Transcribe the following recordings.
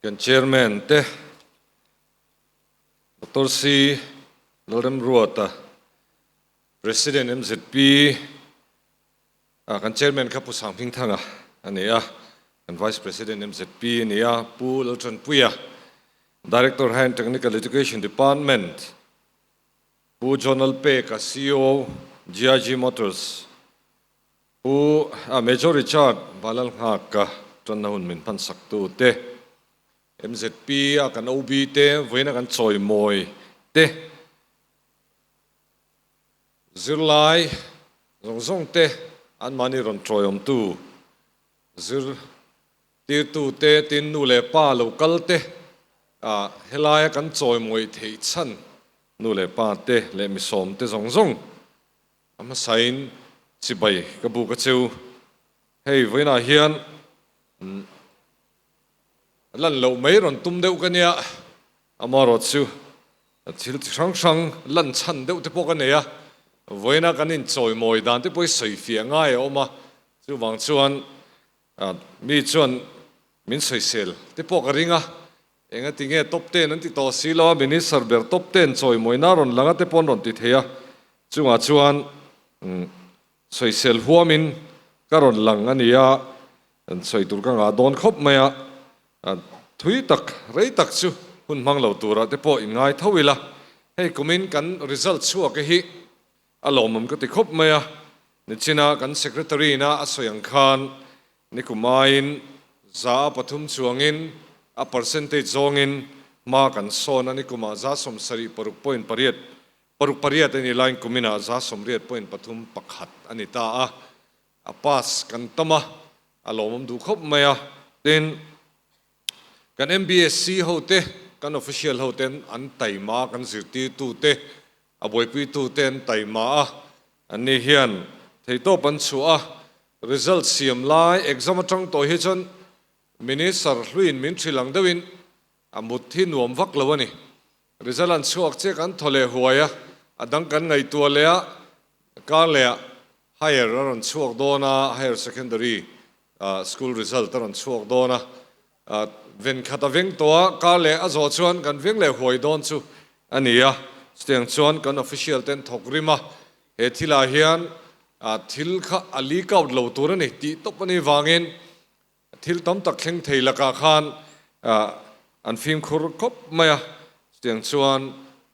Kan Chairman te Doctor Sri Lalrem Ruata, President MZP a kan Chairman kha Pu Sang Hming Thanga a ni a, kan Vice President MZP a ni a Pu Laltran Puia, Director High and Technical Education Department Pu Jonal Pek a CEO GIG Motors, Pu a Major Richard Balalngaka tawnna hun min hmansak tu te, MZP a kan OB te vawiina kan chawi mawi te, zirlai zawng zawng te an mahni rawn chawiawm tu, zirtirtu te tin nu leh pa lo kal te a helai a kan chawi mawi thei chhan nu leh pa te leh misawm te zawng zawng A hmasain chibai ka buk a cheu. Hei vawiinah hian a lan loh mai rawn tum deuh ka nia. Amarawh chu thil chi hrang hrang lan chhan deuh te pawh ka nei a, vawiina kan inchawimawih dan te pawh hi sawi fiah ngai a awm a, chuvang chuan Ahh mi chuan min sawisel te pawh ka ring a, engati nge top ten an ti tawh si lo a, minister ber top ten chawimawina a rawn lang a te pawh an rawn ti thei a, chungah chuan umm sawisel huamin ka rawn lang a ni a, sawi tur ka ngah dawn khawp mai a, ahh thui tak rei tak chu hun hmang lo turah te pawh in ngai tho ila, hei kumin kan result chhuak e hi A lawmawm ka ti khawp mai a, nichina kan secretary-na a sawi ang khan nikum aiin za a pathum chuangin a percentage zawngin hma kan sawn a, nikuma za sawm sarih paruk point pariat, paruk pariat a ni lain kumina za sawm riat point pathum pakhat a ni ta a, a pass kan tam a, a lawmawm duh khawp mai a, tin. Kan MBSC ho te, kan official ho ten an taima kan zirtir tu te, a buaipui tu te an taima a, an nih hian theitawp an chhuah a, result siam lai exam atang tawh hi chuan Minister hluin min hril ang deuhin a mut hi nuam vak lo a ni. Result an chhuak che kan thaw leh huai a, a dang kan ngaihtuah leh a, kar leh a higher a rawn chhuak dawn a, higher secondary school result a rawn chhuak dawn a, ven khat a veng tawh a, kar leh a zawh chuan kan veng leh huai dawn chu a ni a, chutiang chuan kan official ten thawk rim a, he thil ah hian thil kha a leak out lo tur a ni tih tawp a nih vang in Thil tam tak thleng thei lakah khan an fimkhur khawp mai a, chutiang chuan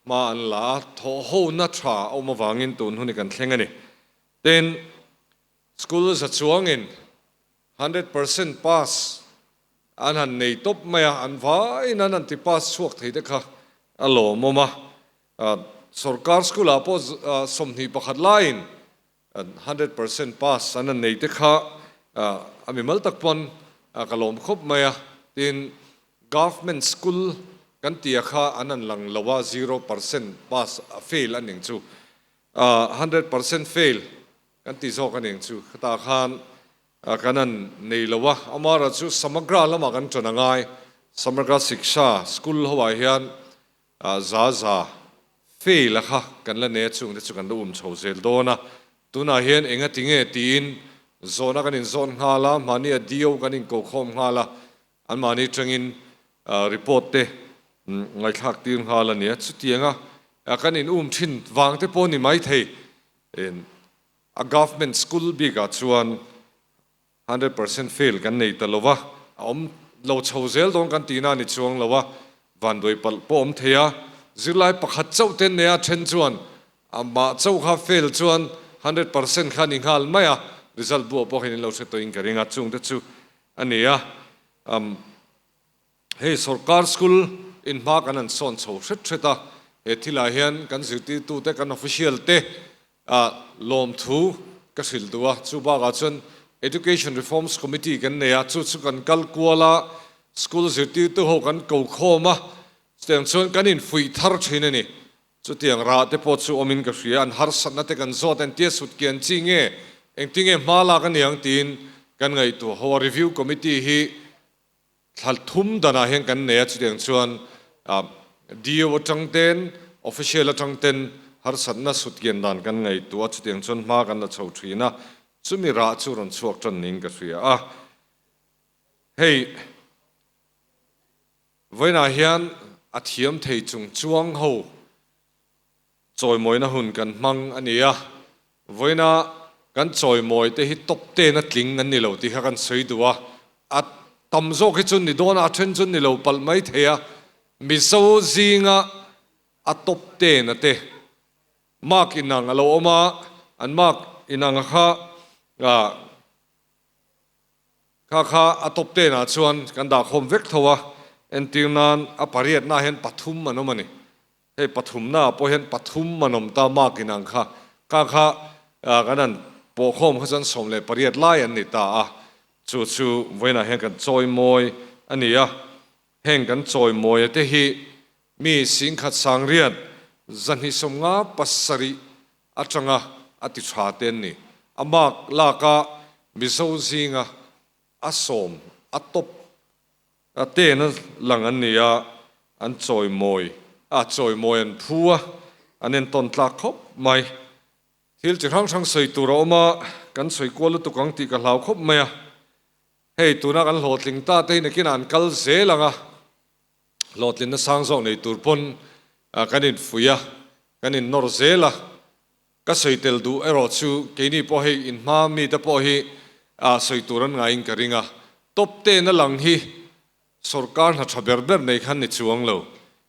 hma an la a, thawhhona tha a awm avangin tun hun hi kan thleng a ni. Tin, school za chuangin hundred percent pass an han nei tawp mai a, an vaiin an han ti pass chhuak thei te kha a lawmawm a, sorkar school ah pawh sawmhnih pakhat laiin Hundred percent pass an han nei te kha a mimal tak pawn ka lawm khawp mai a, tin government school kan tia kha an han lang lo a zero percent pass fail a ning chu hundred percent fail kan ti zawk a ning chu khata khan kan han nei lo a amara chu samagra lamah kan tan a ngai samagra siksha school ho ah hian Zaza, fail a kha kan la nei a, chung te chu kan la um chho zel dawn a, tunah hian eng a ti nge tiin zawn a kan in zawn nghal a, mahni a DO kan in ko khawm nghal a, an mahni tangin report te ngaihthlak tir nghal a nia, chutiang a kan in um thin vang te pawh ni mai thei, a government school bik ah chuan Hundred percent fail kan nei ta lova, a awm lo chho zel dawn kan tihna a ni chuang lo a, vanduai palh pawh awm thei a, zirlai pakhat chauh ten neha then chuan amah chauh kha fail chuan hundred percent kha a ni nghal mai a, result buaipawhin in lo hre tawhin ka ring a, chungte chu a ni a, umm. Hei sorkar school in hma kan han sawn chho hret hret a, he thil ah hian kan zirtirtu te kan official te ah lawmthu ka hrilh duh a, chu bak ah chuan Education Reforms Committee kan nei a, chu chu kan kal kual a, school zirtirtu ho kan ko khawm a, chutiang chuan kan in fuih thar thin a ni, chutiang rah te pawh chu awm in ka hria, an harsat na te kan zawt a, entia sut kian chi nge engtinge hma lak a niang tiin kan ngaihtuah ho a, Review Committee hi Thla thum danah hian kan nei a, chutiang chuan DO atang ten Official atang ten harsatna sutgen dan kan ngeitu a, chutiang chuan hma kan la chho thin a, chumi rah chu rawn chhuak tan niin ka hria a. Hei vawiinah hian a thiam thei chung chuang ho Chawimawina hun kan hmang a ni a, vawiina kan chawimawi te hi top ten a tling an ni lo tih kha kan sawi duh a, a tam zawk hi chu ni dawn a, a then chu ni lo palh mai thei a, Mizo zinga a top ten a te mark inang a lo awm a, an mark inang a kha ah kha kha a top ten ah chuan kan dahkhawm vek tho a, entir nan a pariat na ah hian pathum an awm a ni, Hei pathumnaah pawh hian pathum an awm ta, Mark inang kha kha kha kan han pawhkhawm kha chuan sawm leh pariat lai an ni ta a, chu chu vawiinah hian kan chawimawi a ni a. Heng kan chawimawi te hi mi singkhat sangriat zahnihsawmnga pasarih atanga a ti tha te an ni. A Mark laka Mizo zinga a sawm a tawp A ten a lang an nia, an chawimawi a chawimawi an phu a, an entawn tlak khawp mai. Thil chi hrang hrang sawi tur a awm a, kan sawi kual lutuk ang tih ka hlau khawp mai a. Hei tuna kan hlawhtling ta te hi nakin a an kal zel ang a, hlawhtlin na sang zawk nei tur pawn kan infuih a, kan innawr zel a. Ka sawi tel duh erawh chu keini pawh hei in hma mite pawh hi ah sawi tur an ngaiin ka ring a. Tawpte'n a lang hi sorkar hna tha ber ber nei khan ni chuang lo.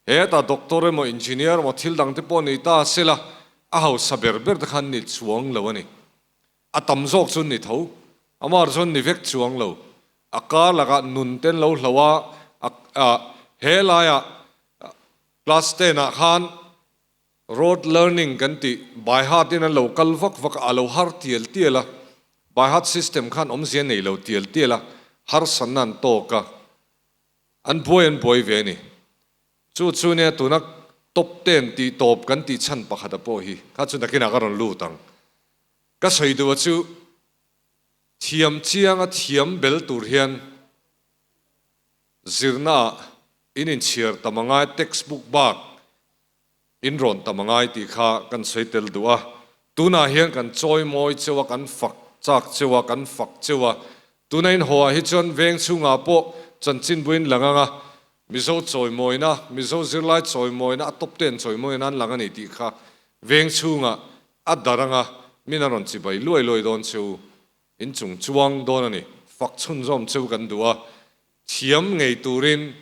Hetah doctor emaw engineer emaw thil dangte pawh nei ta se la a hausa ber ber te khan ni chuang lo a ni. A tam zawk chu ni tho. Amar chuan ni vek chuang lo. A kar lakah nun te an lo hlo a, a ah he laiah class ten ah khan, Rote learning kan tih by heart in an lo kal vak vak a, a lo har tial tial a, by heart system khan awmzia nei lo tial tial a, harsatna an tawk a, an buai an buai ve a ni. Chu chu nia tuna top ten tih tawp kan tih chhan pakhata pawh hi kha chu nakin ah ka rawn lut ang. Ka sawi duh a chu thiam chiang a thiam bel tur hian zirna ah in inchhiar tam a ngai textbook bak, In rawn tam a ngai tih kha kan sawi tel duh a, tunah hian kan chawi mawi cheu a, kan fak chak cheu a, kan fak cheu a. Tuna in haw ah hi chuan veng chhungah pawh chanchin buin la ngang a, Mizo chawi mawina, Mizo zirlai chawi mawina, a top ten chawi mawina an lang a ni tih kha veng chhungah a darh ang a, min a rawn chibai luai luai dawn cheu, in chung chuang dawn a ni. Fak chhunzawm cheu kan duh a, thiam ngei turin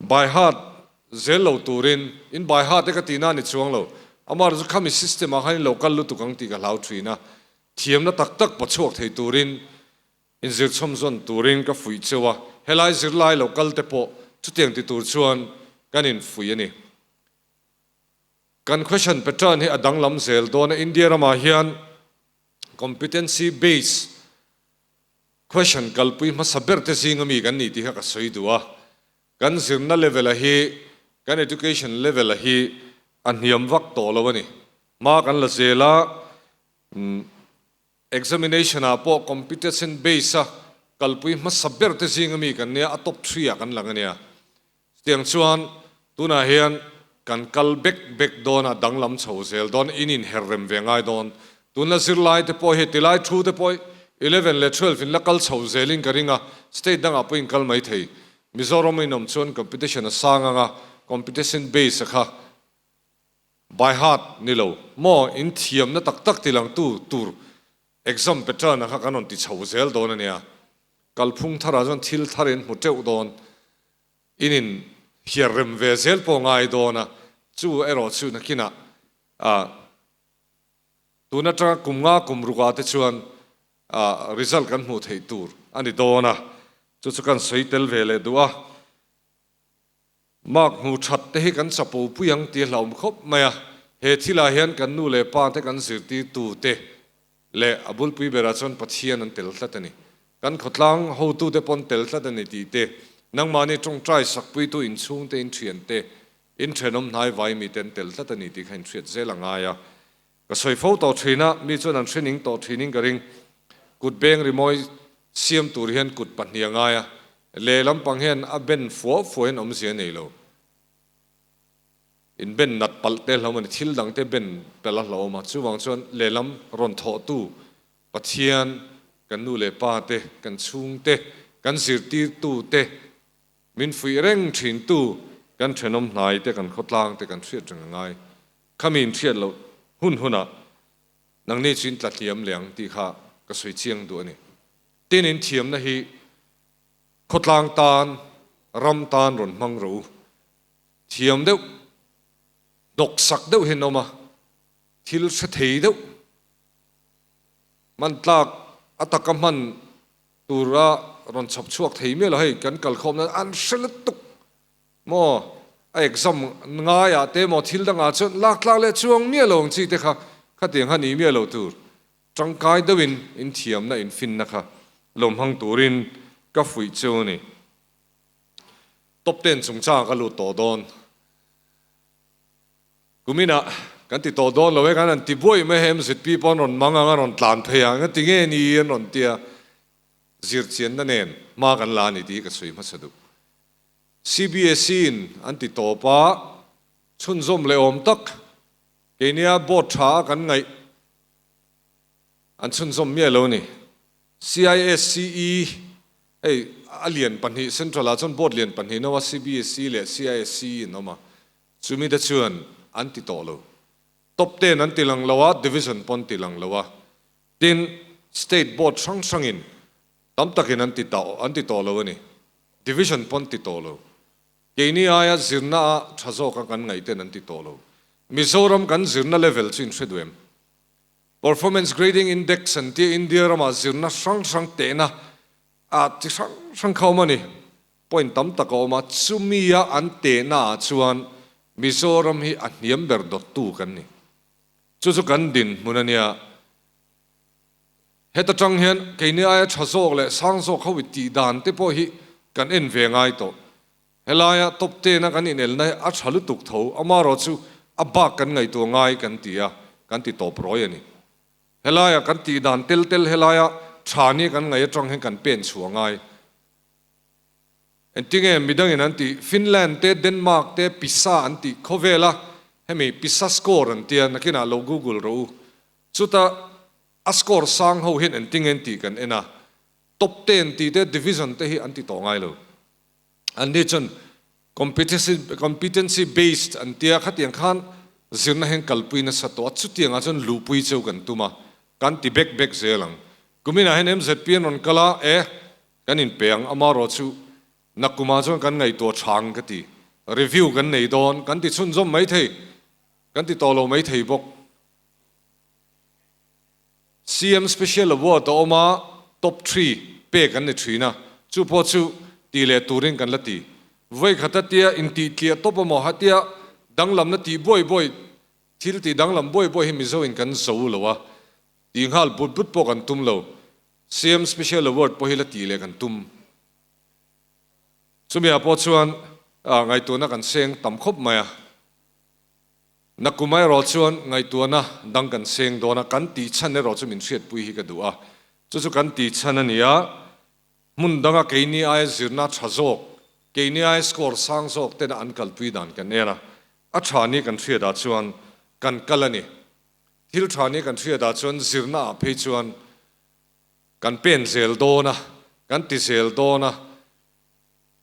By heart zel lo turin in by heart e ka tihna a ni chuang lo. Amar chu khami system ah khan in lo kal lutuk ang tih ka hlau thin a, thiamna tak tak paw chhuak thei turin in zir chhawm zawn turin ka fuih cheu a, helai zirlai lo kal te pawh chutiang ti tur chuan kan in fuih a ni. Kan question pattern hi a danglam zel dawn a, India ramah hian competency based, Question, Kalpui hmasa ber te zing a mi kan nih tih kha ka sawi duh a, kan zirna level a hi, kan education level a hi a hniam vak tawh lo a ni. Hma kan la zel a, umm examination ah pawh competence based a kalpui hmasa ber te zing a mi kan nia a top three ah kan lang a nia. Chutiang chuan tunah hian kan kal bek bek dawn a, danglam chho zel dawn, in in her rem ve ngai dawn. Tun la zir lai te pawh hi, ti lai thu te pawh eleven leh twelve in la kal chho zel in ka ring a, state dang ah pawh in kal mai thei. Mizoram in awm chuan competition a sang ang a, competition base a kha by heart ni lo, maw in thiam na tak tak ti lang tu tur exam pattern a kha kan rawn ti chho zel dawn a nia. Kalphung thar ah chuan thil thar in hmu teuh dawn. In in hiar rem ve zel pawh ngai dawn a, chu erawh chu nakinah a tun atanga kum nga kum ruka te chuan a result kan hmuh theih tur a ni dawn a, chu chu kan sawi tel ve leh duh a, mark hmu that te hi kan chapo pui ang tih a hlauhawm khawp mai a, he thil ah hian kan nu leh pa te kan zirtir tu te Leh a bulpui berah chuan Pathian an tel tlat a ni. Kan khawtlang hotute pawn tel tlat a ni tih te, nangmahni tawngtai sakpuitu inchhungte inthiante, inthenawm hnai vai mi te an tel tlat a ni tih kha inhriat zel a ngai a. Ka sawi fo tawh thin a, mi chuan an hrening tawh thining ka ring. Kut beng rimawi siam tur hian kut pahnih a ngai a, leh lampang hian a ben fuah fuahin awmzia nei lo. Inben nat palh te hlawm a ni. Thil dangte ben palh a hlawm a. Chuvang chuan lehlam rawn thawhtu Pathian, kan nu leh pa te, kan chhungte, kan zirtirtu te, min fuih reng thintu kan thenawm hnai te, kan khawtlang te kan hriat reng a ngai. Khami in hriat loh hun hunah nang nichin tla hliam le ang tih kha ka sawi chiang duh a ni. Tin in thiamna hi khawtlang tan, ram tan rawn hmang ro u. thiam deuh, hnawksak deuh hi an awm a, thil hre thei deuh, hman tlak a taka hman tur a rawn chhawp chhuak thei miah lo, hei kan kal khawm nan an hre lutuk maw, a exam ngai ah te emaw thil dang ah chuan lak tlak leh chuang miah lo ang chi te kha khatiang kha ni miah lo tur tangkai deuh in inthiamna infinna kha lo hmang tur in ka fuih chu a ni. Top ten chung chang ka lut tawh dawn. Kumina kan ti tawh dawn lo e, kan han ti buai mai he mzp pawh an rawn mang ang, an rawn tlan phei ang, ka ti nge ni an rawn ti a, zirchianna nen hma kan la a ni tih hi ka chhui hmasa duh. CBSE in an ti tawp a, chhunzawm leh awm tak keinia board tha a kan ngaih an chhunzawm miah lo a ni. CISCE hei a lian pahnih Central ah chuan board lian pahnih no a CBSE leh CISCE in awm a, chumi te chuan an ti tawh lo. Top ten an tilang lo a, division pawh an ti lang lo a, tin state board hrang hrang in tam tak in an ti ta an ti tawh lo a ni, division pawh an ti tawh lo. Keini aia zirna a tha zawk a kan ngaih ten an ti tawh lo. Mizoram kan zirna level chu in hre duai em? Performance Grading Index an tia India ramah zirna hrang hrang tehna ah chi hrang hrang kha awm a ni. Point tam tak a awm a, chumi a an tehna ah chuan Mizoram hi a hniam ber dawt tu kan ni. Chu chu kan din hmun a nia. Heta tang hian kei ni aia tha zawk leh sang zawk ho i tih dan te pawh hi kan en ve ngai tawh. Helaia top ten a kan inelna hi a tha lutuk tho, amarawh chu a bak kan ngaihtuah ngai kan ti a, kan ti tawp rawi a ni. Helaia kan tih dan tel tel helaia tha ni kan ngaih atang hian kan pen chhuah ngai. Entinge midangin an tih Finland te Denmark te pisa an tih khawvel a, hemi pisa score an tia, nakinah lo google rawh u. Chuta a score sang ho hian entinge an tih kan en a, top ten tih te division te hi an ti tawh ngai lo. an ni chuan competency based an tia khatiang khan zirna hian kalpui nasa tawh a chutiang ah chuan luhpui cheu kan tum a kan ti bek bek zel ang kumin ah hian mzp an rawn kal a e kan in pe ang ama rawh chu na kum ah chuan kan ngaihtuah chhang ka ti review kan nei dawn kan ti chhunzawm mai thei kan ti tawh lo mai thei bawk. CM Special Award a awm a, Top Three pek an ni thin a, chu pawh chu tih leh turin kan la ti. Vawikhatah tia intihtiah tawp a maw hatia danglam na tih buai buai, thil tih danglam buai buai hi Mizoin kan zo u lo a, tih nghal but but pawh kan tum lo. CM Special Award pawh hi la tih leh kan tum. Chumi ah pawh chuan ngaihtuna kan seng tam khawp mai a. Na kum erawh chuan ngaihtuahna dang kan seng dawn a, kan tih chhan erawh chu min hriatpui hi ka duh a, chu chu kan tih chhan a ni a, hmun danga keini aia zirna tha zawk, keini aia score sang zawk tena an kalpui dan kan en a, a tha ni kan hriat ah chuan kan kal a ni, thil tha ni kan hriat ah chuan zirna ah phei chuan kan pen zel dawn a, kan ti zel dawn a.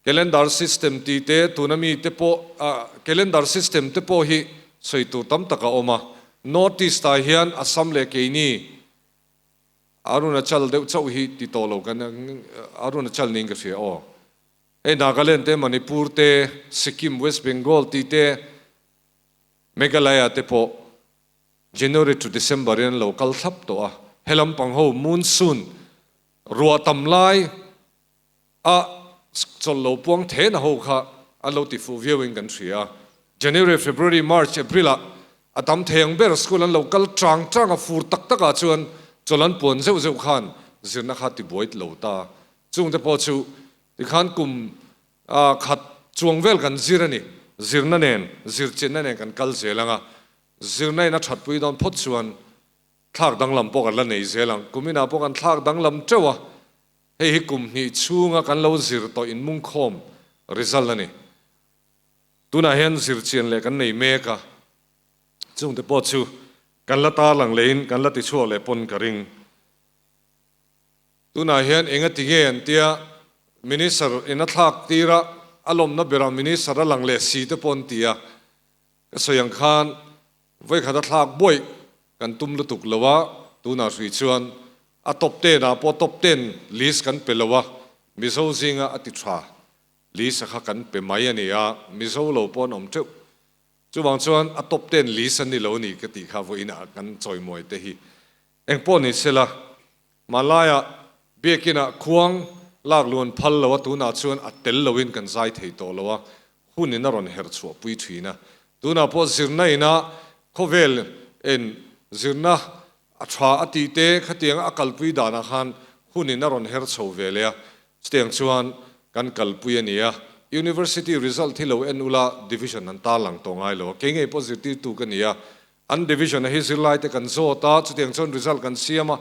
Calendar system tih te tuna mi te pawh calendar system te pawh hi sawi tur tam tak a awm a, North East ah hian Assam leh keini Arunachal deuh chauh hi ti tawh lo kan Arunachal niin ka hria aw. Hei Nagaland te Manipur te Sikkim West Bengal tih te Meghalaya te pawh January to December in an lo kal thlap tawh a, he lampang ho monsoon ruah tam lai a chawl lo puang thena ho kha an lo ti fuh viau in kan hria a, January, February, March, April ah a tam thei ang ber school an lo kal trang trang a, fur tak tak ah chuan chawl an puan zeuh zeuh khan zirna kha ti buai lo ta, chung te pawh chu ti khan kum a khat chuang vel kan zir a ni, zirna nen, zir chinna nen kan kal zel ang a, zirna in a that pui dawn phawt chuan thlak danglam pawh kan la nei zel ang, kum inah pawh kan thlak danglam teuh a. Hei hi kum hnih chhunga kan lo zir tawh inmungkhawm result a ni. Tunah hian zirchian leh kan nei mek a, chungte pawh chu kan la tarlang lehin kan la tichhuak leh pawn ka ring. Tunah hian eng a ti nge an tia, Minister in a thlak tirah a lawmna berah Minister a lang leh si te pawh an ti a. Ka sawi ang khan vawikhat a thlak buaih kan tum lutuk lo a, tunah hrui chuan a top ten ah pawh top ten list kan pe lo a, Mizo zinga a ti tha list a kha kan pe mai a ni a, Mizo lo pawh an awm teuh. Chuvang chuan a top ten list an ni lo a ni ka tih kha vawiin a kan chawimuaite hi Engpawh ni sela, hmanlaia Biakinah khuang lak luan phal loa tunah chuan a tel loin kan zai thei tawh lo a, hun in a rawn herh chhuah pui thin a. Tunah pawh zirna inah khawvel in zirna a tha a tih te khatianga a kalpui danah khan hun in a rawn her chho ve leh a, chutiang chuan kan kalpui a nia, University result hi lo en ula division an tarlang tawh ngai lo a, kei ngei pawh zirtirtu ka ni a, An division a hi zirlaite kan zawt a, chutiang chuan result kan siam a,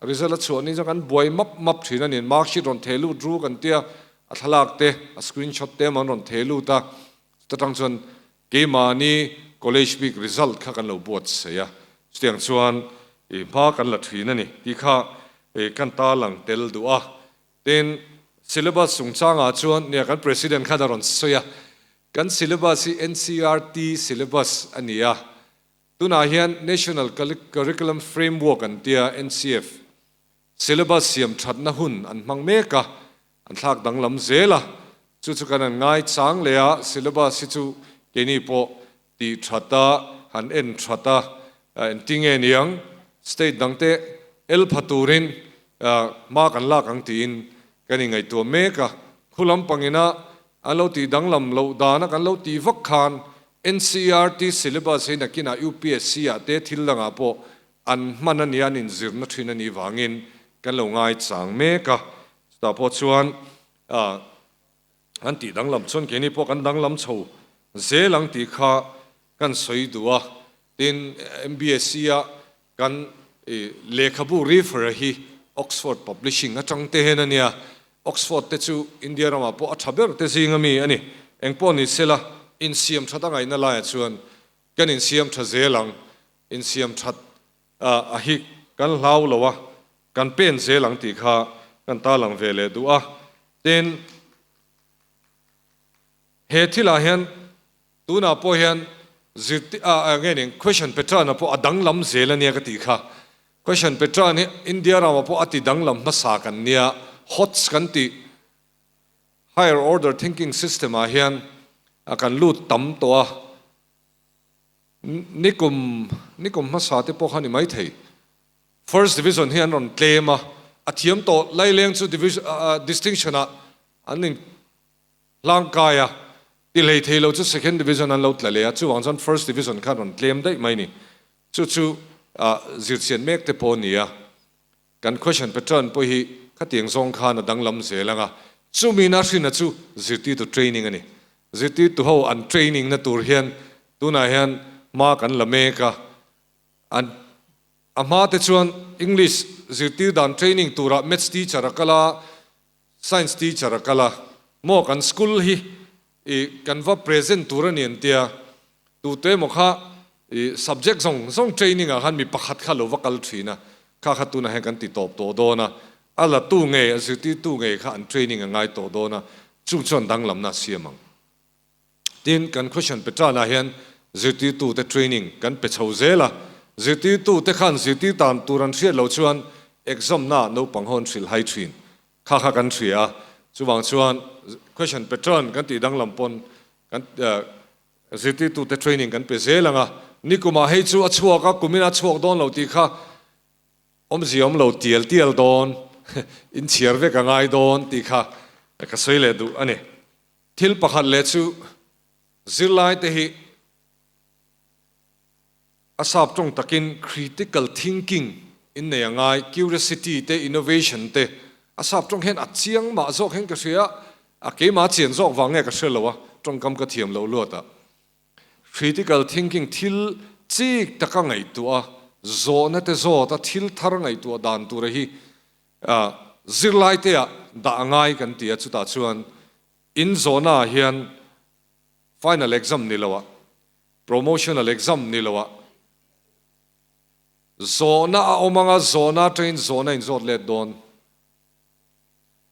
result a chhuah ni chuan kan buai map map thin a ni, mark sheet rawn theh lut ru kan tia, a thlalak te, a screen shot te emaw an rawn theh lut a, chuta tang chuan keimahni college week result kha kan lo buatsaih a, chutiang chuan i hma kan la thin a ni tih kha i kan tarlang tel duh a, Tin, syllabus chungchangah chuan nia kan President khan a rawn sawi a, kan syllabus hi ncert syllabus a ni a, tunah hian National Curriculum Framework an tia, NCF, syllabus siam thatna hun an hmang mek a, an thlak danglam zel a, chu chu kan an ngaichang leh a, syllabus hi chu keini pawh Tih that a, han en that a, engti nge niang state dangte elpha turin hma kan lak ang tiin kan ingaihtuah mek a, khulam pangina an lo tih danglam loh dana kan lo tih vak khan NCERT syllabus hi nakinah upsc ah te thil dangah pawh an hman a nia an inzirna thin anih vangin kan lo ngaichang mek a, chutah pawh chuan Kan tih danglam chuan keini pawh kan danglam chho zel ang tih kha kan sawi duh a, tin MBSE-a kan lehkhabu refer-a hi Oxford Publishing atang te hian a nia, Oxford te chu India ramah pawh a tha ber te zinga mi a ni, eng pawh ni sela insiam that angaihna laia chuan kan insiam tha zel ang, insiam that A a hi kan hlau lo a, kan pen zel ang tih kha kan tarlang ve leh duh a. Tin, he thil ah hian tunah pawh hian zirtir ah eng nge ni Question pattern a pawh a danglam zel ania ka tih kha. Question pattern hi India ramah pawh a ti danglam hmasa kan nia. Hots kan tih higher order thinking system ah hian a kan lut tam tawh a. Ni kum, ni kum hmasa te pawh kha ni maithei First Division hi an rawn tlem a, a thiam tawh Laileng chu Distinction ah an in hlang kai a, ti hlei thei lo chu Second Division an lo tla leh a, chuvang chuan First Division kha an rawn tlem daih mai ni. Chu chu zirchian mek te pawh a ni a. Kan question pattern pawh hi khatiang zawng khan a danglam zel ang a, chumin a hrinna chu zirtirtu training a ni. Zirtirtuho an training na tur hian tunah hian hma kan la mek a, an a hma te chuan English zirtir dan training turah Maths teacher a kal a, Science teacher a kal a, Maw kan school hi ih kan va present tur a ni an tia, tute maw kha ih subject zawng zawng training ah khan mi pakhat kha lo va kal thin a, kha kha tunah hian kan ti tawp tawh dawn a, a la tu ngei a zirtirtu ngei kha an training a ngai tawh dawn a, chung chuan danglamna a siam ang. Tin, kan Christian pe tanah hian zirtirtute training kan pe chho zel a. Zirtirtute khan zirtir dan tur an hriat lo chuan exam naah naupang hawn hrilh hai thin kha kha kan hria a. Chuvang chuan Christian pe tan kan tih danglam pawn kan zirtirtute training kan pe zel ang a. Nikumah hei chu a chhuak a, kumin a chhuak dawn lo tih kha awmzia awm lo tial tial dawn, inchhiar vek a ngai dawn tih kha ka sawi leh duh a ni. Thil pakhat leh chu zirlaite hi a sap tawng takin critical thinking in nei a ngai, curiosity te innovation te a sap tawng hian a chiang mah zawk hian ka hria a keimah chian zawk vang nge ka hre lo a tawngkam ka thiam loh luat a critical thinking thil chik taka ngaihtuah a zawhna te zawt a thil thar ngaihtuah dan tur a hi A, Zirlaite-a dah a ngai kan ti a, chutah chuan in zawhna-ah hian final exam ni loa, promotional exam ni loa zawhna a awm ang a, zawhna atangin zawhna in zawt let dawn.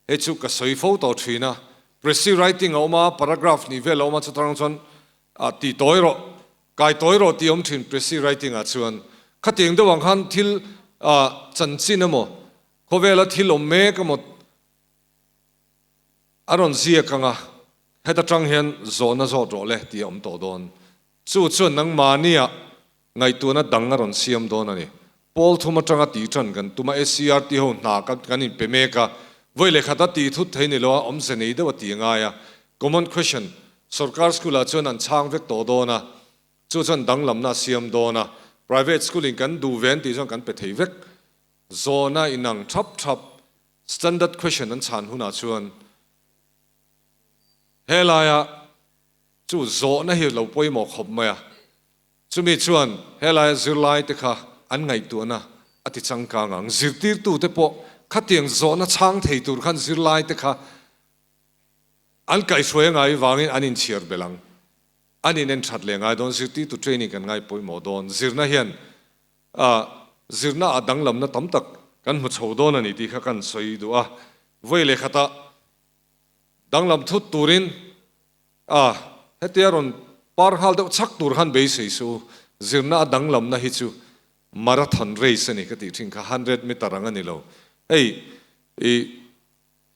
Hei chu ka sawi fo tawh thin a, precy writing a awm a, paragraph hnih vel a awm a, chutah rang chuan Ah, ti tawi rawh, kai tawi rawh ti awm thin Presi Writing-ah chuan. Khatiang deuh ang khan thil ah chanchin emaw, khawvela thil awm mek emaw a rawn ziak ang a, heta tang hian zawhna zawt rawh le ti a awm tawh dawn. Chu chuan nangmahniah Ngaihtuahna dang a rawn siam dawn a ni. Pawl thum atanga ti tan kan tum a, SCRT ho hna kan kan inpe mek a, vawilehkhat a ti thut thei ni lo a, awmze nei deuh a ti a ngai a. Common question, sorkar school ah chuan an chhang vek tawh dawn a, chu chuan danglamna a siam dawn a, private school in kan duh ve an tih chuan kan pe thei vek zawn a, inang thap thap standard question an chhan hunah chuan helaiah chu zawhna hi lo pawimawh khawp mai a. Chumi chuan helai zirlaite kha an ngaihtuahna a ti changkang ang. Zirtirtute pawh khatiang zawhna chhang thei tur khan zirlaite kha an kaih hruaia ngaiin vangin an inchhiar belh ang. An inen that leh ngai dawn, zirtirtu training kan ngai pawimawh dawn. Zirna hian ah zirna ah danglamna tam tak kan hmu chho dawn a ni tih kha ka rawn sawi duh a. Vawi leh khatah danglam thut turin Ah, hetia rawn par nghal deuh chak tur han beisei su, zirna a danglamna hi chu marathon race a ni ka tih thin kha, hundred metre ang a ni lo. Hei, i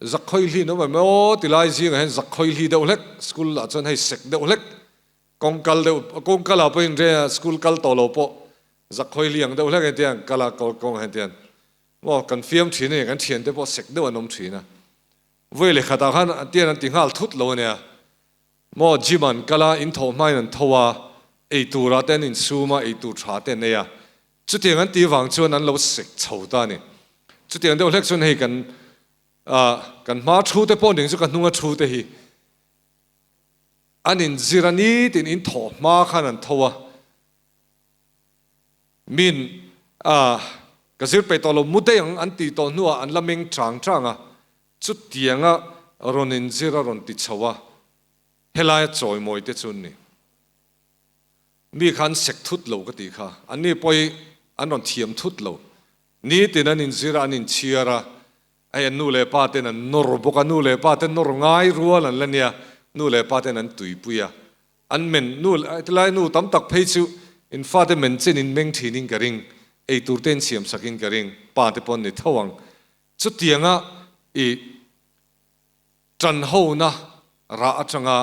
Zakhawihli in awm em maw ti lai zingah hian Zakhawihli deuh hlek, school ah chuan hei sek deuh hlek, kawng kal deuh, kawng kal ah pawhin re school kal tawh lo pawh Zakhawihli ang deuh hlek en tiang kal a kawng ah en tiang maw kan fiam thin a ni, kan thiante pawh sek deuh an awm thin a. Vawi leh khatah khan tian an ti nghal thut lo a nia. Maw gym an kal a, in tho hmain an tho a, ei turah te an in sum a, ei tur tha te an ei a. Chutiang an ti vang chuan an lo sek chho ta a ni. Chutiang deuh hlek chuan hei kan ah kan hma thu te pawh ning chu ka hnunga thu te hi an in zir a nitin in tho hma khan an tho a. Min, Aah, ka zir peih tawh lo mudei ang an tih tawh hnuah an la meng ṭang ṭang a, chutiang a rawn inzir a rawn ti chho a, helai a chawimawi te chu ni. Mi kha an sek thut lo ka tih kha, anni pawhi an rawn thiam thut lo. Ni tin an inzir a, an inchhiar a, ai a nu leh pa ten an nawr bawk a, nu leh pa te nawr ngai rual an la nia, nu leh pa ten an tuipui a, An men nu leh ti lai nu tam tak phei chu in fate men chen in meng thin in ka ring, ei tur te in siam sak in ka ring, pa te pawh ni tho ang. Chu tiang a i tan ho na rah atang a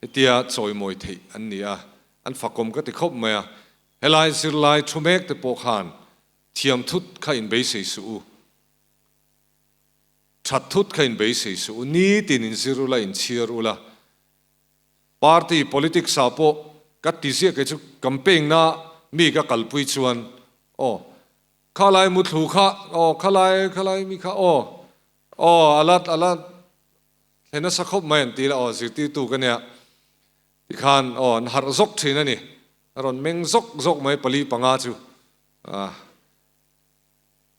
hetia chawi mawi theih an ni a, an fakawm ka ti khawp mai a, he lai zir lai thu mek te pawh khan thiam thut kha in beisei suh u, that thut kha in beisei suh u, ni tin in zir u la, in chhiar u la. Party politics ah pawh ka ti ziah kei chu campaign na mi ka kalpui chuan aw khalai muthlu kha aw khalai khalai mi kha aw aw ala ala thlen nasa khawp mai an ti la aw zirtirtu ka nia tikhan aw an harh zawk thin a ni a rawn meng zawk zawk mai pali panga chu ah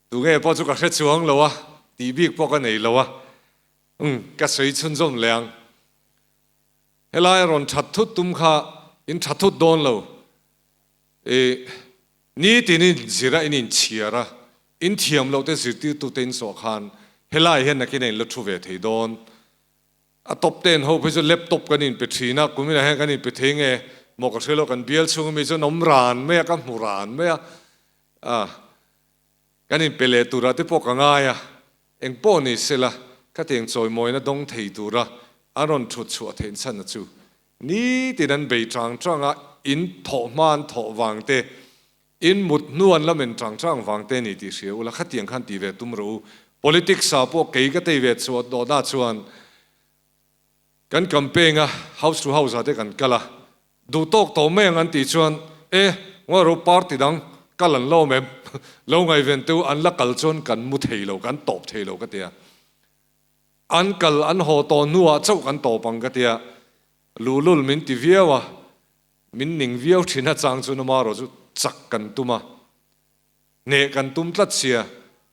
tu nge pawh chu ka hre chuang lo a ti bik pawh ka nei lo a um ka sawi chhunzawm leh ang. Helai rawn that thut tum kha in tha thut dawn lo i nitin in zir a in in chhiar a in thiam loh te zirtirtu te in saw khan helai hian nakin a in la thu ve thei dawn a top ten ho phei chu laptop kan in pe thin a kumin ah hian kan in pe thei nge maw ka hre lo kan bial chhung ami chuan awm ran mai a ka hmu ran mai a a Kan inpe leh tura te pawh ka ngai a, eng pawh ni sela khatiang chawimawina dawng thei tura an rawn thut chhuah theih chhanna chu nitin an bei chang chang a, in thawh hmaan thawh vang te, in mut hnu an la men chang chang vang te ni tih hria ula, khatiang khan ti ve tum rawh u, politics-a pawh kei ka tei ve chhuah dawhna chuan. Kan kan peng a, house to house ah te kan kal a, duh tawk tawh mai ang an tih chuan e ngaw ero party dang kal an lawm em? Lo ngaiven teu an la kal chuan kan mu thei lo, kan tawp thei lo ka tia, an kal an haw tawh hnuah chauh kan tawp ang ka tia Lulul min ti viau a, min ning viau thin a chang chuan amarawh chu chak kan tum a. hneh kan tum tlat sia,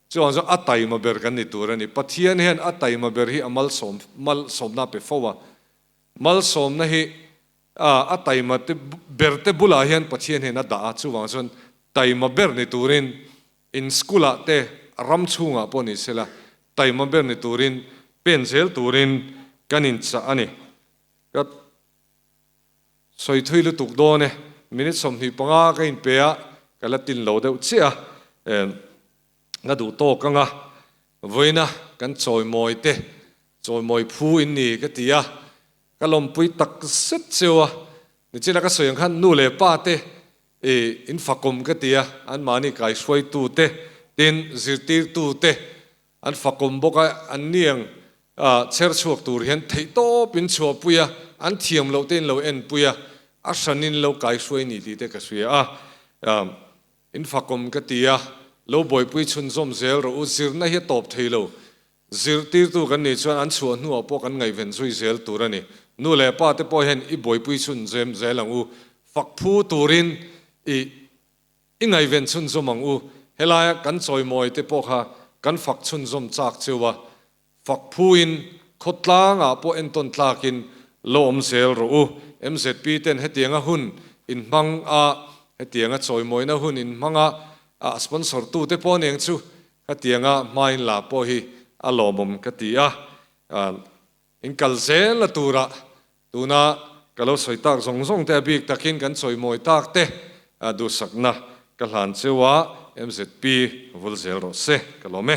chuvang chuan a taima ber kan ni tur a ni. Pathian hian a taima ber hi a malsawm malsawmna pe fo a. Malsawmna hi ah a taima te berte bulah hian Pathian hian a dah a, chuvang chuan taima ber ni turin in school ah te ram chhungah pawh ni sela taima ber ni turin pen zel turin kan inchah a ni. Ka. Sawi thui lutuk dawn e. Minute sawmhnih panga ka in pe a, ka la tin lo deuh chiah a. Erm, ka duh tawk anga, vawiina kan chawimawi te, chawimawi phu in ni ka ti a, ka lawmpui tak zet cheu a. Nichila ka sawi ang khan nu leh pa te i in fakawm ka ti a, anmahni kaihruaitu te, tin zirtirtu te, An fakawm bawk a, an niang a chher chhuak tur hian theihtawp in chhuah pui a, an thiam loh te in lo en pui a, a hran in lo kai hruai ni tih te ka hria a, in fakawm ka ti a, lo buaipui chhun zawm zel rawh u, zirna hi a tawp thei lo, zirtir tu kan nih chuan an chhuah hnu ah pawh kan ngaihven zui zel tur a ni, nu leh pa te pawh hian i buaipui chhun zem zel ang u, fak phu tur in i I ngaiven chhunzawm ang u, helaia kan chawimawite pawh kha kan fak chhunzawm chak cheu a, fak phuin khawtlangah pawh entawn tlakin lo awm zel rawh u. MZP ten hetianga hun in hmang a, hetianga chawimawina hun in hmang a, a sponsor tute pawh aniang chu khatianga hmain la pawh hi a lawmawm ka ti a, in kal zel a tura Tuna ka lo sawi tak zawng zawng te a bik takin kan chawimawi tak te a duhsakna ka hlan cheu a MZP vul zel rawh se ka lawm e.